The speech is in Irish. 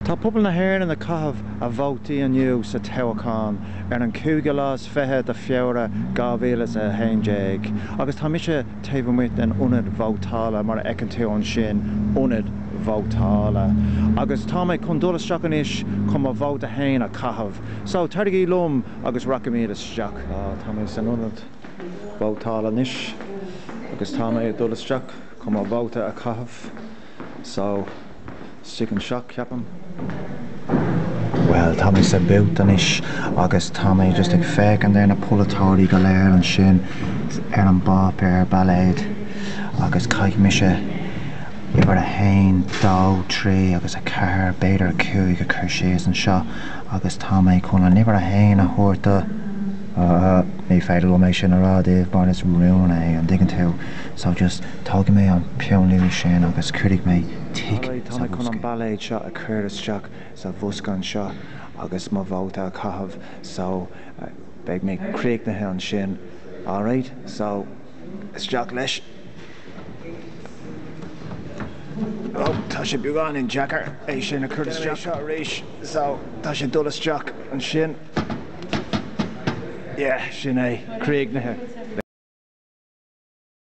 Tá pobal na hÉireann ag caitheamh a vótaí inniu sa toghchán ar an cúigiú lá is fiche de Fheabhra 2011 agus tá mise taobh amuigh den ionad vótála, mar a fheiceann tú ansin, ionad vótála, agus tá mé chun dul isteach anois chun mo vóta féin a chaitheamh. So, tairgí liom agus rachaimid isteach. Tá mé san ionad vótála anois agus tá mé ag dul isteach chun mo vóta a chaitheamh. So, isteach anseo ceapaim. Bhuel, tá mé sa booth anois agus tá mé just ag féachaint ar na polaiteoirí go léir anseo ar an bpáipéar ballóide agus caithfidh mise uimhir a haon, dó, trí agus a ceathair, b'fhéidir a cúig a chur síos anseo agus tá mé chun an uimhir a haon a thabhairt do, ní féidir liom é sin a rá daoibh mar is rún é, an dtuigeann tú, so just. Tógfaidh mé an peann luaidhe sin agus cuirfidh mé tic Alright, tá mé chun an ballóid seo a chur isteach sa bhosca anseo agus mo vóta a chaitheamh so beidh mé críochnaithe ansin. Alright, so isteach leis. Ó, tá sé beagáinín deacair é sin a chur isteach seo arís so tá sé ag dul isteach ansin. Yeah, sin é, críochnaithe.